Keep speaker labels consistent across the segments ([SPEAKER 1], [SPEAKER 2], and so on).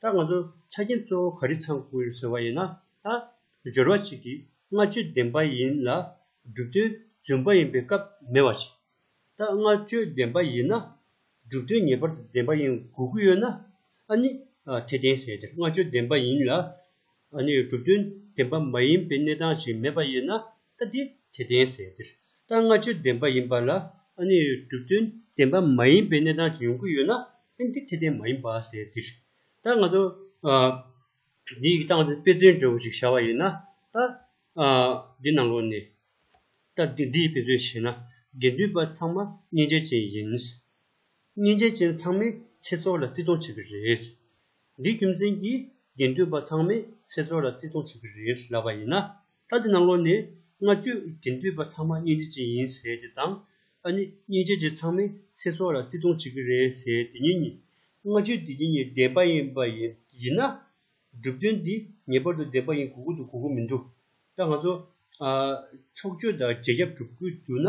[SPEAKER 1] ད་ང་ཚོ་ཆ་རྐྱེན་གཙོ་བོ་ག་རེ་ཚང་དགོས་ཟེར་བ་ཡིན་ན། ད་སྦྱོར་བ་ཞིག་གིས་ལྔ་བཅུ་ལྡན་པ་ཡིན་ལ་སྒྲུབ་དོན་རྫུན་པ་ཡིན་པའི་སྐབས་མེད་པ་ཞིག། ད་ལྔ་བཅུ་ལྡན་པ་ཡིན་ན་སྒྲུབ་དོན་ངེས་པར་དུ་ལྡན་པ་ཡིན་དགོས་ཀྱི་ཡོད་ན། ཨ་ནི་དེ་བསྟན་ཟེར་དེར་ལྔ་བཅུ་ལྡན་པ་ཡིན་ལ་ཨ་ནུའི་གྲུབ་དོན་བདེན་པ་མ་ཡིན་པའི་གནས་སྟངས་ཤིག་མེད་པ་ཡོད་ན་ད་དེ་དེ་བདེན་ཟེར་འདིར་ལྟར་སྔ་ཆོས་བདེན་པ་ཡིན་པ་ལ་ཨ་ནུའི་གྲུབ་དོན་བདེན་པ་མ་ཡིན་པའི་གནས་སྟངས་ཤིག་ཡོང་གི་ཡོད་ན་དབྱིན་དེ་དེ་བདེན་མ་ཡིན་པ་ཟེར་འདིར་ད་ང་ཚོ་འདི་ཡིག་སྟངས་དཔེ་མཚོན་འབྲས་བུ་ཞིག་བྱ་བ་ཡིན་ན་ད་འདི་ནང་ལོགས་ནས་ད་འདི་འདི་ཡི་དཔེ་མཚོན་བྱས་ན་དགེ་འདུན་པ་ཚང་མ་སྙིང་རྗེ་ཅན་ཡིན། སྙིང་རྗེ་ཅན་ཚང་མས་ཁྱེད་ཚོ་ལ་བརྩི་མཐོང་བྱེད་ཀྱི་རེད། འདིས་རྒྱུ་མཚན་གྱིས་དགེ་འདུན་པ་ཚང་མས་ཚེ་སྲོག་ལ་བརྩི་མཐོང་བྱེད་ཀྱི་རེད་ལབ་པ་ཡིན་ན། ད་ལྟའི་གནམ་ལོ་ནས་སྔ་བཅུ་དགེ་འདུན་པ་ཚང་མ་སྙིང་རྗེ་ཅན་ཡིན་ཟེར་དེ་དང། ཨ་ནི་སྙིང་རྗེ་ཅན་ཚང་མས་ཚེ་སྲོག་ལ་བརྩི་མཐོང་བྱེད་ཀྱི་རེད་ཟེར་དེ་གཉིས་གཉིས་སྔ་བཅུ་དེ་གཉིས་གཉིས་བདེན་པ་ཡིན་པ་ཡིན་ན། གྲུབ་དོན་འདི་ངེས་པར་དུ་བདེན་པ་ཡིན་དགོས་ཀྱི་འདུག་གོ་གི་མི་འདུག་ད་ང་ཚོ། ཕྱོགས་ཆོས་དང་རྒྱལ་ཁྱབ་གྲུབ་དགོས་འདུག་ན།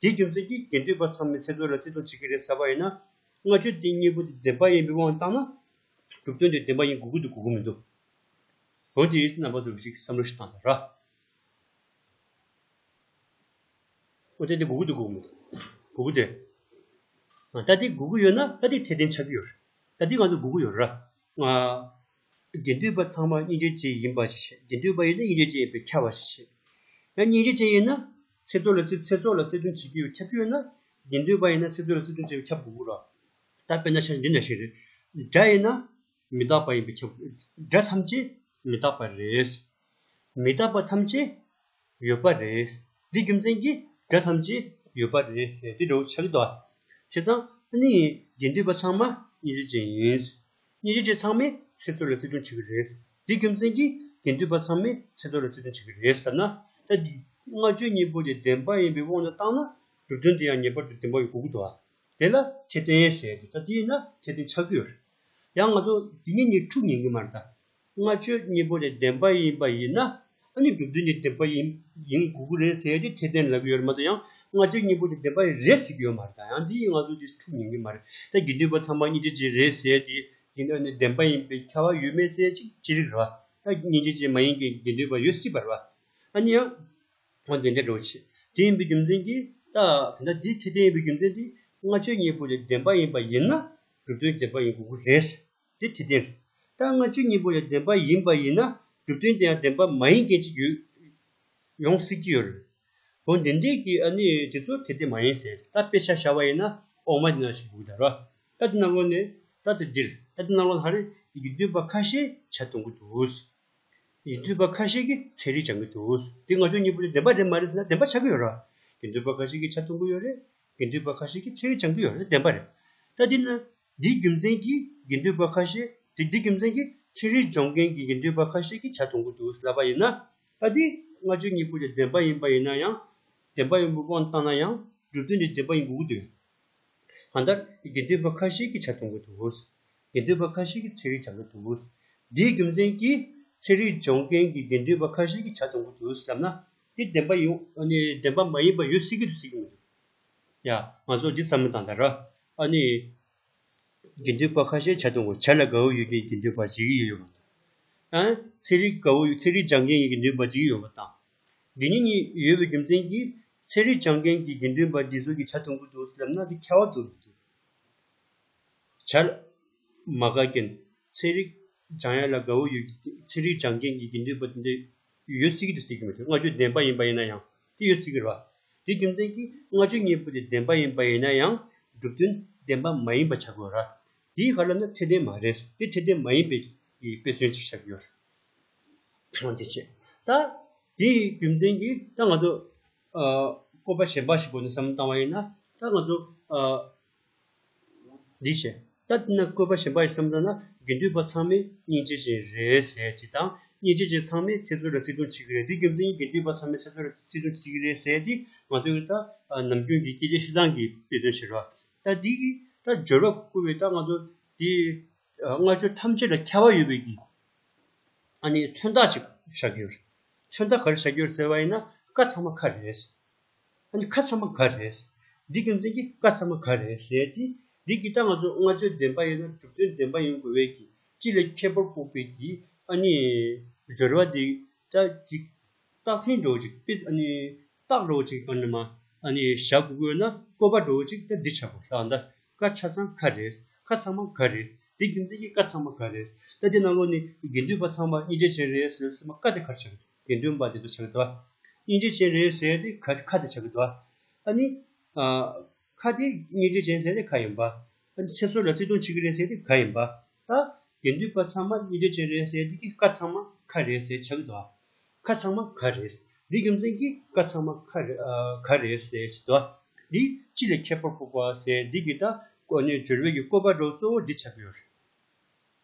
[SPEAKER 1] དེའི་རྒྱུ་མཚན་གྱིས་དགེ་འདུན་པ་ཚང་མས་ཚེ་སྲོག་ལ་བརྩི་མཐོང་བྱེད་ཀྱི་རེད་ཟེར་བ་ཡིན་ན། ལྔ་མཆོད་རྟེན་གཉིས་པོ་དེ་བདེན་པ་ཡིན་པའི་དབང་དུ་བཏང་ན། གྲུབ་དོན་དེ་བདེན་པ་ཡིན་དགོས་ཀྱི་འདུག་གོ་གོ་མི་འདུག། བོན་དེ་ཡིས་རྣམ་པ་ཚོར་བ་ཞིག་གི་བསམ་བློ་ཞིག་བཏང་ཟེར། བོན་དེ་དེ་དགོས་ཀྱི་འདུག་གོ་གོ་མི་འདུག། དགོས་ཀྱི་རེད། ད་དེ་དགོས་ཀྱི་ཡོད་ན་ད་དེ་འཐད་ལྡན་ཆགས་ཀྱི་ཡོད་རེད། ད་དེ་ང་ཚོར་དགོས་ཀྱི་ཡོད་རེད། དགེ་འདུན་པ་ཚང་མ་སྙིང་རྗེ་ཅན་ཡིན་པ་ཞིག་བྱེད་དགེ་འདུན་པ་ཡིན་ན་སྙིང་རྗེ་ཅན་ཡིན་པའི་ཁྱབ་པ་ཞིག་བྱེད། ཡང་སྙིང་རྗེ་ཅན་ཡིན་ན་ཚེ་སྟོད་ལ་ཚེ་སྲོག་ལ་བརྩེ་དུང་བྱེད་རྒྱུའི་ཁྱབ་རྒྱུ་ཡོད་ན། དགེ་འདུན་པ་ཡིན་ན་ཚེ་སྟོད་ལ་བརྩེ་དུང་བྱེད་པའི་ཁྱབ་དགོས་དགོས་རོགས། ད་དཔེར་ན་ཤར་འདི་འདྲ་ཞིག་རེད། དགྲ་ཡིན་ན་མི་རྟག་པ་ཡིན་པའི་ཁྱབ་དགོས། དགྲ་ཐམས་ཅད་མི་རྟག་པ་རེད། མི་རྟག་པ་ཐམས་ཅད་ཡོད་པ་རེད། འདི་རྒྱུ་མཚན་གྱིས་དགྲ་ཐམས་ཅད་ཡོད་པ་རེད་ཟེར་དེ་འདྲའོ་ཆགས་དོགས་ཆེ་ཚང་གཉིས་ཡིན་དགེ་འདུན་པ་ཚང་མ་སྙིང་རྗེ་ཅན་ཡིན། སྙིང་རྗེ་ཅན་ཚང་མས་ཚེ་སྲོག་ལ་བརྩི་མཐོང་བྱེད་ཀྱི་རེད། འདི་རྒྱུ་མཚན་གྱིས་དགེ་འདུན་པ་ཚང་མས་ཚེ་སྲོག་ལ་བརྩི་མཐོང་བྱེད་ཀྱི་རེད་ཟེར་ན། ད་འདི་ལྔ་བརྗོད་གཉིས་པོ་དེ་བདེན་པ་ཡིན་པའི་དབང་དུ་བཏང་ན་གྲུབ་དོན་དེ་ཡང་ངེས་པར་དུ་བདེན་པ་ཡོད་དགོས་ཀྱི་འདུག་དེ་ལ་ཁྱད་ལྡན་ཟེར་དེ་ད་འདི་ཡིན་ན་ཁྱད་ལྡན་ཆགས་ཀྱི་ཡོད། ཡང་ང་ཚོ་འདི་ཉིན་ཉིན་དྲུག་ཉན་གྱི་མ་རེད་ད། ལྔ་བཅུ་གཉིས་པོ་ལས་བདེན་པ་ཡིན་པ་ཡིན་ན་ཨ་ནི་གྲུབ་དོན་གྱི་བདེན་པ་ཡིན་ཡིན་དགོས་ཀྱི་རེད་ཟེར་ཏེ་ཁྱད་ལྡན་ལབ་ཀྱི་ཡོད་རེད་མ་གཏོགས་ཡང་ལྔ་བཅུ་གཉིས་པོ་དེ་བདེན་པ་རེད་ཟེར་གྱི་ཡོད་མ་རེད་ད་ཡང་འདི་ཡིན་ང་ཚོ་དེ་འཁྲུག་ཉན་གྱི་མ་རེད་ད་དགེ་འདུན་པ་ཚང་མ་སྙིང་རྗེ་ཅན་རེད་ཟེར་ཏེ་དེ་འདྲ་ནི་བདེན་པ་ཡིན་པའི་ཁྱད་པར་ཡོད་མེད་ཚད་ཅིག་ཅི་རིགས་རེད་བ། ད་སྙིང་རྗེ་ཅན་མ་ཡིན་གྱི་དགེ་འདུན་པ་ཡོད་སྲིད་པ་རེད་བ། ཨ་ནི་ཡང་ཨོ་དེ་འདྲ་འགྲོ་བ་ཆེ་དེ་ཡིན་པའི་རྒྱུ་མཚན་གྱིས་ད་དེ་འདྲ་དེ་ཁྱད་ལྡན་ཡིན་པའི་རྒྱུ་མཚན་དེ་ལྔ་བཅུ་གཉིས་པོ་ལས་བདེན་པ་ཡིན་པ་ཡིན་ན་གྲུབ་དོན་བདེན་པ་ཡིན་དགོས་ཀྱི་རེད། དེ་དེ་དེར་ད་ལྔ་བཅུ་གཉིས་པོ་ཡང་བདེན་པ་ཡིན་པ་ཡིན་ན་གྲུབ་དོན་དེ་ཡང་བདེན་པ་མ་ཡིན་མཁན་ཅིག་ཡོད་ཡོང་སྲིད་ཀྱི་ཡོད་རེད། བོན་བདེན་འདྲེས་ཀྱིས་ཨ་ནི་དེ་ཚོ་དེ་དེ་མ་ཡིན་ཟེར་ད་དཔེ་ཆ་བྱ་བ་ཡིན་ན་ཨོག་མ་དེ་ན་ཞིག་འདུག་ད་རོ་ད་དེ་ནང་ལོགས་ནས་ད་དེ་འདིར་ད་དེ་ནང་ལོགས་ལྷ་རིས་ཀྱི་འདུས་པ་ཁ་ཤས་བྱ་གཏོང་གི་འདུག་ཡིན་འདུས་པ་ཁ་ཤས་ཀྱིས་ཚན་རིག་སྦྱང་གི་འདུག་དེ་ལྔ་བཅུ་གཉིས་པོ་དེ་བདེན་པ་རེད་མ་རེད་ཟེར་ན་བདེན་པ་ཆགས་ཀྱི་ཡོད་རེད་ཡིན་འདུས་པ་ཁ་ཤས་ཀྱིས་བྱ་གཏོང་གི་ཡོད་རེད་ཡིན་འདུས་པ་ཁ་ཤས་ཀྱིས་ཚན་རིག་སྦྱང་གི་ཡོད་རེད་བདེན་པ་རེད་ད་འདི་ན་འདིའི་རྒྱུ་མཚན་གྱིས་དགེ་འདུན་པ་ཁ་ཤས་དེ་འདི་རྒྱུ་མཚན་གྱིས་ཚིག་རིས་སྦྱོང་མཁན་གྱི་དགེ་འདུན་པ་ཁ་ཤས་ཀྱིས་བྱ་ཐུང་གི་འདུག་ཟླ་བ་ཡིན་ན། ད་དེ་ལྔ་བཅུ་གཉིས་པོ་དེ་བདེན་པ་ཡིན་པ་ཡིན་ན་ཡང། བདེན་པ་ཡིན་པའི་དབང་བཏང་ན་ཡང་སྒྲུབ་དོན་དེ་བདེན་པ་ཡིན་དགོས་ཀྱི་འདུག་གང་ལྟར་དགེ་འདུན་པ་ཁ་ཤས་ཀྱིས་བྱ་ཐུང་གི་འདུག་དགེ་འདུན་པ་ཁ་ཤས་ཀྱིས་ཚིག་རིས་སྦྱང་གི་འདུག་འདིའི་རྒྱུ་མཚན་གྱིས་ཚིག་རིས་སྦྱོང་མཁན་གྱི་དགེ་འདུན་པ་ཁ་ཤས་ཀྱིས་བྱ་ཐུང་གི་འདུག་བསམ་ན། དེ་བདེན་པ་ཡིན། བདེན་པ་མ་ཡིན་པ་ཡོད་སྲིད་ཀྱི་འདུག་སྲིད་ཀྱི་མི་འདུག་ཡ། ང་ཚོ་འདི་བསམ་མི་དང་ད་ར། ཨ་ནི། དགེ་འདུན་པ་ཁ་ཤས་བྱ་དུང་གོ་ཆ་ལ་དགའ་བོ་ཡོད་མཁན་དགེ་འདུན་པ་བྱེད་ཀྱི་ཡོད་པ་དང། ཚན་རིག་དགའ་བོ་ཚན་རིག་སྦྱང་མཁན་གྱི་དགེ་འདུན་པ་བྱེད་ཀྱི་ཡོད་པ་དང། འདི་གཉིས་གཉིས་ཡོད་པའི་རྒྱུ་མཚན་གྱིས་ཚན་རིག་སྦྱང་མཁན་གྱི་དགེ་འདུན་པ་འདི་ཚོ་གི་ཆ་དུང་གི་འདུག་ཟེར་ན་དེ་ཁ་བ་དོག་གི་འདུག་བྱ། མ་དགའ་མཁན་ཚན་རིག་སྦྱང་ཡ་ལ་དགའ་བོ་ཡོད་མཁན་ཚན་རིག་སྦྱང་མཁན་གྱི་དགེ་འདུན་པ་དེ་འདྲ་ཡོད་སྲིད་ཀྱི་འདུག་ཟེར་གྱི་མ་རེད་ང་ཆོས་ལྡན་པ་ཡིན་པ་ཡིན་ན་ཡང། དེ་ཡོད་ཚིག་གི་རོ། དེའི་རྒྱུ་མཚན་གྱིས་ལྔ་བཅུ་གཉིས་པོ་དེ་བདེན་པ་ཡིན་པ་ཡིན་ན་ཡང་སྒྲུབ་དོན་བདེན་པ་མ་ཡིན་པ་བྱ་དགོས། ར་དེའི་ཧ་ལམ་ན་ཐེག་ལྡན་མ་རེད་ཟེར་དེ་ཐེག་ལྡན་མ་ཡིན་པའི་དཔེ་མཚོན་ཅིག་བྱ་དགོས། གང་དེ་བྱས། ད་དེའི་རྒྱུ་མཚན་གྱིས་ད་ང་ཚོ་བཀོད་པ་གཞན་པ་ཞིག་གོ་ནས་བསམ་བློ་བཏང་བ་ཡིན་ན་ད་ང་ཚོ་འདི་བྱས། ད་འདི་ན་བཀོད་པ་གཞན་པ་ཡི་སེམས་ལྟ་ན་དགེ་འདུན་པ་ཚང་མས་སྙིང་རྗེ་ཅན་རེད་ཟེར་དེ་དང་སྙིང་རྗེ་ཅན་ཚང་མས་ཚེ་བཙོན་ལ་བརྩི་མཐོང་བྱེད་ཀྱི་རེད་དེ་རྒྱུ་མཚན་གྱིས་དགེ་འདུན་པ་ཚང་མས་ཚེ་བཙོན་ལ་བརྩི་མཐོང་བྱེད་ཀྱི་རེད་ཟེར་དེ་ང་ཚོའི་ད་ནམ་རྒྱུན་གྱི་སྐད་ཆ་ཤི་ཚང་གིས་དཔེ་མཚོན་བྱེད་རོགས། ད་འདི་གི་ད་སྦྱོར་བ་བཀོད་པའི་ད་ང་ཚོ་དེ་སྔ་ཆོས་ཐམས་ཅད་ལ་ཁྱད་པར་ཡོད་པའི་གི་ཨ་ནི་མཚོན་རྟགས་ཅིག་བཞག་རྒྱུ་རེད། མཚོན་རྟགས་ག་རེ་བཞག་རྒྱུ་རེད་ཟེར་བ་ཡིན་ན་བཀའ་ཚང་མ་ཁ་རེད། ཨ་ནི་ཁ་ཚ་མ་ག་རེད། འདི་རྒྱུ་མཚན་གྱི་བཀའ་ཚ་མ་ག་རེད་ཟེར་ཏེ། འདི་གི་སྟངས་ང་ཚོ་ལྔ་བཅོས་བདེན་པ་ཡིན་ན་གྲུབ་དོན་བདེན་པ་ཡིན་དགོས་བས་ཀྱི་སྤྱི་ལ་ཁྱད་པར་དཔོག་པས་ཀྱི་ཨ་ནི། རོལ་བ་འདི་ལྟར་ཅིག། རྟགས་མཚན་སྒྲོག་ཅིག་དཔེ་ཨ་ནི། རྟགས་སྒྲོག་ཅིག་ཨ་ནི་མ་ཨ་ནི་བཞག་དགོས་དགོས་ན་བཀོད་པ་སྒྲོག་ཅིག་ད་འདི་ཆ་པོ་ལྷག་མདའ་ཀ་ཆ་ཚང་ག་རེད་ཁ་ཚ་མ་ག་རེད་འདི་རྒྱུ་མཚན་གྱི་བཀའ་ཚ་མ་ག་རེད་ད་འདི་ནང་ལོགས་ནས་དགེ་འདུན་པ་ཚང་མ་གཉིས་འདྲེས་ཅན་རེད་ཟེར་སྲིད་མ་ཀ་དེ་གར་ཆགས་ཡོད། དགེ་འདུན་པ་དེ་ཚོ་བྱ་གི་དོ། སྙིང་རྗེ་ཅན་རེད་ཟེར་ཏེ་ཁ་དེ་བྱ་གི་དོ། ཨ་ནི། ཁ་དེ་སྙིང་རྗེ་ཅན་ཟེར་ཏེ་ཁ་ཡིན་པ། ཨ་ནི་ཚེ་སྲོག་ལ་བརྩེ་དུང་བྱེད་ཀྱི་རེད་ཟེར་ཏེ་ཁ་ཡིན་པ། ད། དགེ་འདུན་པ་ཚང་མ་སྙིང་རྗེ་ཅན་རེད་ཟེར་དུས་ཀྱི་ཀ་ཚང་མ་ཁ་རེད་ཟེར་བྱ་གི་དོ། ཁ་ཚང་མ་ཁ་རེད། འདི་རྒྱུ་མཚན་གྱིས་ཀ་ཚང་མ་ཁ་ཁ་རེད་ཟེར་བྱེད་དོ། འདི་ཅི་ལས་ཁྱད་པར་འཕགས་པ་ཟེར་འདི་ཀྱི་ད་གོ་ནས་སྦྱོར་བའི་ཀྱི་བཀོད་པ་སྒྲོ་གཙོ་བོ་འདི་ཆགས་ཀྱི་ཡོད།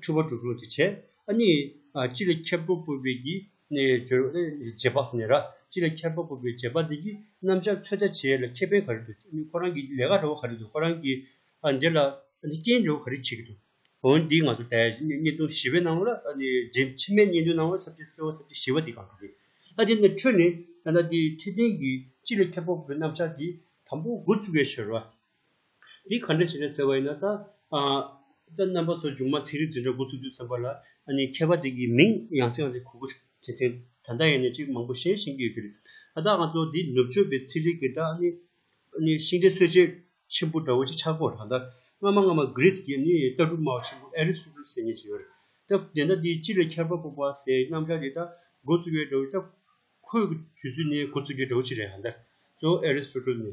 [SPEAKER 1] འཁྲུལ་བ་དྲུག་རུང་དུ་བྱས། གཉིས། སྤྱི་ལ་ཁྱབ་པོ་སྤོབས་པས་ཀྱིས། རྗེས་དཔག་སུ་ནི་ར། སྤྱི་ལ་ཁྱབ་པོ་སྤོབས་པའི་རྗེས་དཔག་འདི་ཀྱིས་རྣམ་བཞག་ཚོད་ལྟ་བྱེད་ལ་ཁེ་ཕན་ག་རེ་འདུག་ཁོ་རང་གི་ལས་ཀ་འདྲ་བོ་ག་རེ་འདུག་ཁོ་རང་གིས་འདི་ལ་རྐྱེན་འབྱུང་ག་རེ་བྱེད་ཀྱི་འདུག་འོན་འདིས་ང་ཚོ་ལྟའི་བརྙན་ཐུང་བཞི་བའི་ནང་ལ་རྗེས་ཕྱི་མའི་བརྙན་ཐུང་ནང་ལ་ས་བཅད་གསོལ་བ་ས་བཅད་བཞི་བ་དེ་གང་དུ་རེད། དེ་ནི་འཕྲོས་ནས་ད་ལྟ་དེའི་འཐད་ལྡན་གྱི་སྤྱི་ལ་ཁྱབ་པོ་སྤོབས་པའི་རྣམ་བཞག་དེ་དང་པོ་འགོ་བཙུགས་ཡ་ཞེས་རོ། འདི་ག་འདྲ་བྱས་ནས་ཟེར་བ་ཡིན་ན་ད། ད་རྣམ་པ་ཚོ་སྒྱུ་མ་ཚིག་རིས་འཛིན་གྲྭ་འགོ་ཚུགས་དུས་ཙམ་པ་ལ་ཨ་ནི་མཁས་པ་དེ་གི་མིང་ཡང་སྲིད་ཡང་སྲིད་གོ་གོ་ཐེན་ཐེན་ད་ལྟ་ཡིན་ན་ཅིག་མང་པོ་ཤེས་ཤེས་ཀྱི་ཡོད་ཀྱི་རེད་ད་ད་ང་ཚོ་འདི་ནུབ་ཕྱོགས་པའི་ཚིག་རིས་ཀྱི་ད་ཨ་ནི་ཨ་ནི་ཤིང་རྟའི་སྲོལ་འབྱེད་ཆེན་པོ་འདྲ་བོ་ཅིག་ཆགས་དགོས་རེད་ད་སྔ་མ་སྔ་མ Greece ཀྱི་ནི་ལྟ་གྲུབ་སྨྲ་བ་ཆེན་པོ Aristotle ཟེར་ཉེ་ཅིག་ཡོད་རེད་ད་དེ་ད་འདི་སྤྱི་ལ་ཁྱད་པར་དཔོག་པ་ཟེར་རྣམ་གྲངས་དེ་ད་འགོ་བཙུགས་ཀྱི་འདྲ་བོ་ཅིག་ད་ཁོས་དུས་ཚོད་ནས་འགོ་བཙུགས་ཀྱི་འདྲ་བོ་ཅིག་རེད་ད་གཙོ་བོ Aristotle ནི།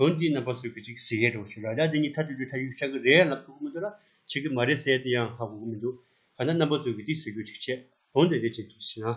[SPEAKER 1] དོན་དེའི་རྣམ་པ་གསོད་གི་ཅིག་ཟེར་ཡས་འགྲོ་ཞེས་ར་རྒྱ་དེ་གཉིས་ཐ་དུས་དུས་ཐ་ཡུག་ཆག་གི་རེད་ལབ་ཐུག་གི་མི་འདུག་ལ་བྱེད་གི་མ་རེད་ཟེར་དེ་ཡང་ཧ་གོ་གི་མི་འདུག་ག་ད་རྣམ་པ་གསོད་གི་ཅིག་ཟེར་རྒྱུ་ཅིག་བྱས་དོན་དེ་འདྲས་བྱེད་ཐུག་ཟིན་ན།